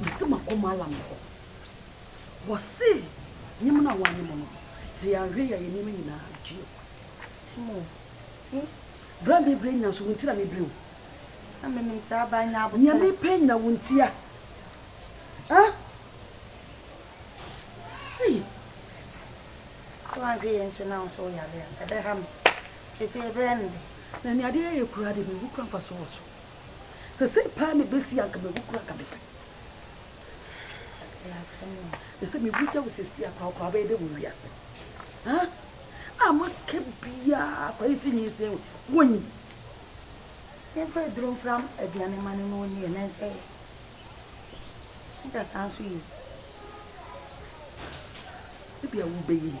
Mese makɔ Malam no hɔ. Wɔse nye mu na wɔanye mu no, dze yɛanhwɛ yi a yɛn nneɛma nyinaa betumi akɔ ase mu o. Bere a mebere nya nso, wo nti na mebere o. Na menim sɛ aba anya aboterɛ. Nea mepɛ nya wo nti a, ah. Ei. Sɛ wanhwɛ yɛn nso na wo nso woyare a, ɛbɛha me. Sesei berɛ no de. Na nea adeɛ yɛ koraa de, mehu kora mfasoɔ wɔ so. Sɛ sei paa na ɛbɛsi anka mawu kora anka mepɛ. Ɛɛ sɛ mewu da wo sɛsi akora wokora wobɛyɛ dɛ wɔ wiase. A maka biaa kwa yi si nyinsin wo wɔnyi. Yɛmfa aduro mfra aduane ma no na ɔni yɛ nan sɛ nka saa nso yie. Ebi a wobɛyi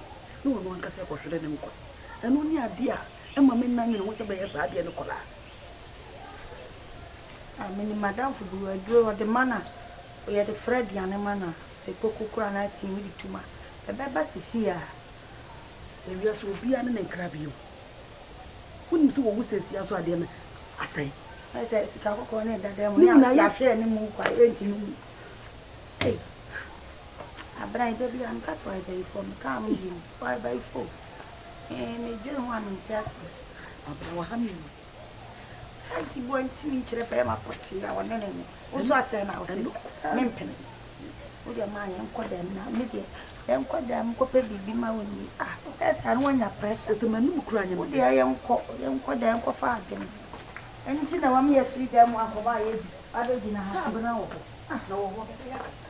no na ɔno ankasa ɛkɔhwere ne nkwa. Ɛno ne adeɛ a ɛma me nna nwene ho sɛ bɛyɛ saa adeɛ no kɔlaa. Ah menim m'adamfo bi aduro ɔde ma no a yɛde fra aduane ma no a sɛ koko kura no a tea wode tom a ɛbɛba sisii a na wiase obiara ne ne nkra bio wonim sɛ wɔwu sɛsia nso adeɛ no asɛe sɛ sika kɔkɔɔ ne ɛdada mu ne yɛahwɛ ne mu kwa ɛnti no mu abena ɛda bi a meka so a ɛbɛyi fam mekaa ho bio Why by phone? Eeh me dwen ho a me nte aseɛ. Aba wɔ ha me wu. Auntie boɔ nti me nkyerɛ pɛ ma pɔtee a ɔne ne nye. Wo nso asɛe na ɔse me mpene. Wo deɛ maa yɛn kɔ dɛm na me deɛ yɛn kɔ dɛm kɔ pɛ biribi ma wo ni. Ah wo pɛ saa no wanya pressure. Ɛsɛ ma num kura nyɛ me. Wo deɛ yɛn kɔ yɛn kɔ dɛm kɔ fa adwene. Ɛno nti na wame yɛ firi dɛm akɔ hɔ a yɛ di. Abɛ gyina ha. Sɛ abena wɔ hɔ na wɔ hɔ bɛbɛ yɛ akasa.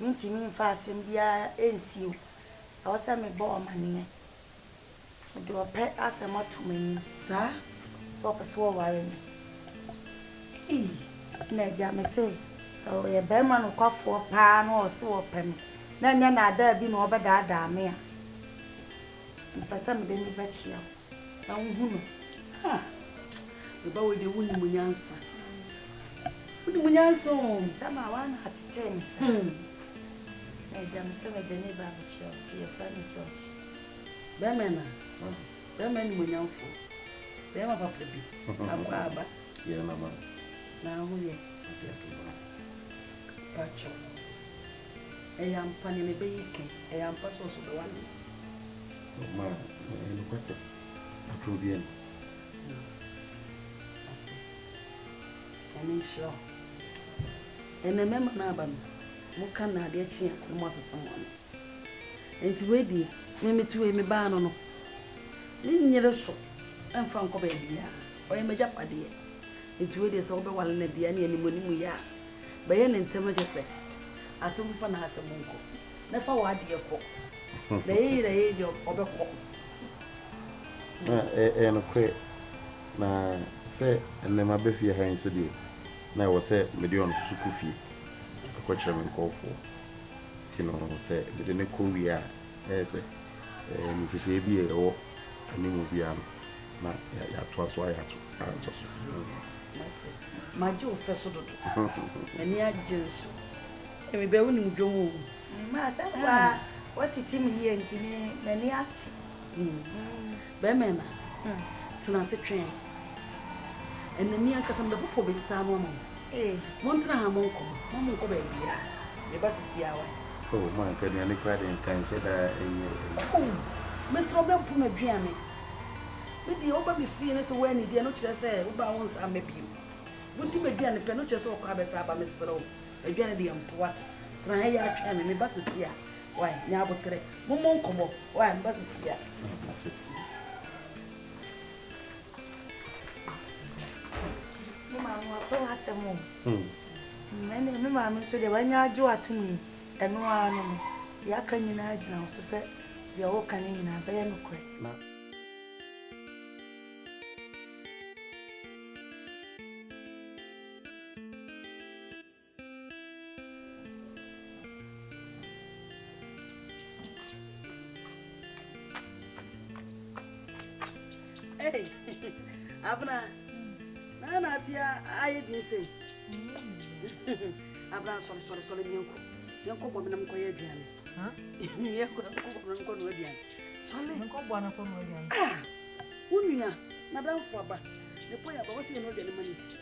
Mentumi mfa asɛm biara nsi o. Ɛwɔ sɛ mebɔ ɔmaneɛ. Mede ɔpɛ asɛm ato m'anim. Saa? Sɛ ɔpɛ sɛ ɔware me? Ei! Ɛna agya, mese sɛ ɔyɛ barima nokwafoɔ paa na ɔse ɔpɛ me, na ɛnyɛ nnaadaa bi na ɔrebɛdaadaa me a, mepɛ sɛ mede no bɛkyea wo. na wohu no ha meba wei deɛ wonim nyansa wonim nyansa o sɛ ma woana atetee me sa na agya me sɛ mede ne ba bɛkyerɛ wo nti yɛfrɛ no george bɛmɛ na bɛmɛ animonyamfoɔ bɛma papa bi akɔ aba yɛ mama na ho yɛ ɔde ato hɔ patwɔ ɛyɛ ampa nea mebɛyi kɛn ɛyɛ ampa sɛ ɔso bɛwa no Ɔma ɛyɛ nokwasɛm. Atoro obiara ni. Ate. Nyame nhyira wo. Ɛnɛ mmarima no aba no, wɔka nnade akyi a na wɔasesa wɔn ano. Enti wei deɛ, me mete wei, me baa no no, menyere so mfa nkɔ baabiara. Ɔyɛ m'agyapadeɛ. Enti wei deɛ sɛ wobɛwale no deɛ, ɛnneɛ animuanimu yɛ a, bɛyɛ no ntɛm na kyerɛ sɛ, asɛm fa na asɛm nkɔ. na fa w'adeɛ kɔ. Na ɛyɛ yie na ɛyɛ yie a, ɔbɛkɔ. Na ɛ, ɛyɛ nokorɛ, na sɛ ɛnnɛ maba fie ha yi nso deɛ, na ɛwɔ sɛ mede ɔno nso kɔ fie kɔkyerɛ me nkorɔfoɔ. Nti no, sɛ mede no kɔ wie a, ɛyɛ sɛ, ɛ, nhyehyɛeɛ bi a ɛwɔ animu biara no, na yɛ, yɛatoa so ayɛ ato, atɔ so. Mate. Magye wo fɛ so dodo. M'ani agye nso. Me bɛ wo nim dwom o. Me ma asɛm pa ara wo tete me yie nti me m'ani ate. Bɛɛma na tena ase twɛn ɛna mi ankasa me bɛ popo me nsa ano ama wo. Mo ntena ha mo nkɔ mo mo nkɔ baabiaa me ba sisi awa. Oh mo anka aduane koraa deɛ nka nhyɛ da nyɛ ɛyi. Oh me serɛ wo bɛ mpo na dwia me me deɛ wo ba me fie no sɛ wo anidi ɛno kyerɛ sɛ wo ba wo nsa mma bio wo di ma duane pɛ ɛno kyerɛ sɛ wo kɔ abɛsa aba me serɛ wo Adwane deɛ mpo wate. Tena ha yi ara twɛn me, meba seesei ara. Wai, nya aboterɛ. Mommɔ nkɔmmɔ. Wai, meba seesei ara. Mate. Me maame wapɛ w'asɛm o. Hmm. Ɛnna me maame nso deɛ wanya agye w'atom yi, ɛno ara no no. Deɛ aka nyinaa gyina wo so sɛ deɛ woka no nyinaa bɛyɛ nokorɛ. Hey, Abena, na na ati ayɛ din sɛ. Abena, sɔre sɔre sɔre bi nkɔ. Yɛnkɔ bɔ menam kɔyɛ aduane. Yɛnkɔ bɔ menam kɔ no aduane. Sɔre. Yɛnkɔ bɔ no kɔ no aduane. Ah, wo nua, madamfo aba. Ne pɔ yɛ aba, wɔsɛ yɛ no aduane ma ne di.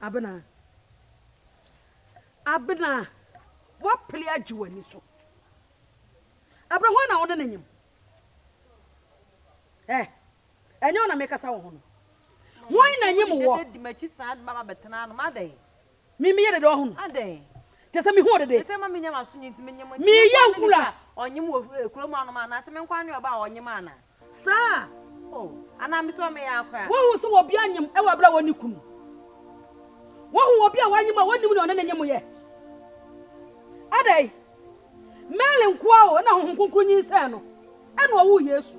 Abena, Abena, woapere agye w'ani so. Abena, hwan na wo ne no nyem? Eh, ɛnyɛ wo na mekasa wo ho no. Hwan na nyem woɔ? Me meyɛ dede ɔhon. Adɛn. Kyerɛ sɛ mehu wo dede. Efisɛ ma menya m'aso nyin nti menyem. Enti me nkoa ne nnipa a ɔnyem wɔ kurom anom a? Anaase me nkoa ne ɔbaa a ɔnyem a na. Saa. O, anaa me tɔɔ me yam koraa. Woahu sɛ obi anyem wɔ bere a onni kunu? Woahu obi a wanyem a wonnim nea ɔne no nyem yɛ? Adɛn. Mary nkoa o na Honhom Kronkron nyinsɛn no, ɛnna ɔwoo Yesu.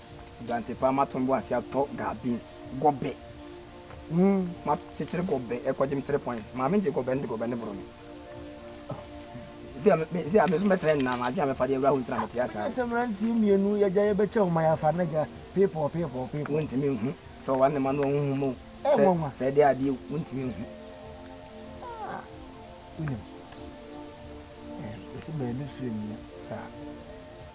Guante paa ma tɔn bo ase atɔ gaa beans gɔbɛ mu ma kyekyere gɔbɛ ɛkɔ gyem three points maame gye gɔbɛ ne de gɔbɛ ne boro me sɛ me sɛ ame so mɛtena nna ma adwene mɛfa de awura ho ntina mɛte ase ara sɛ mmeranteɛ mmienu yɛgya yɛbɛkyɛ wo ma yɛafa ne gya people people people wontumi nhu sɛ ɔwa ne ma no ɔho hom o sɛ sɛ ɛde adeɛ wontumi nhu ah, wonim ɛsɛ baabi so nnua saa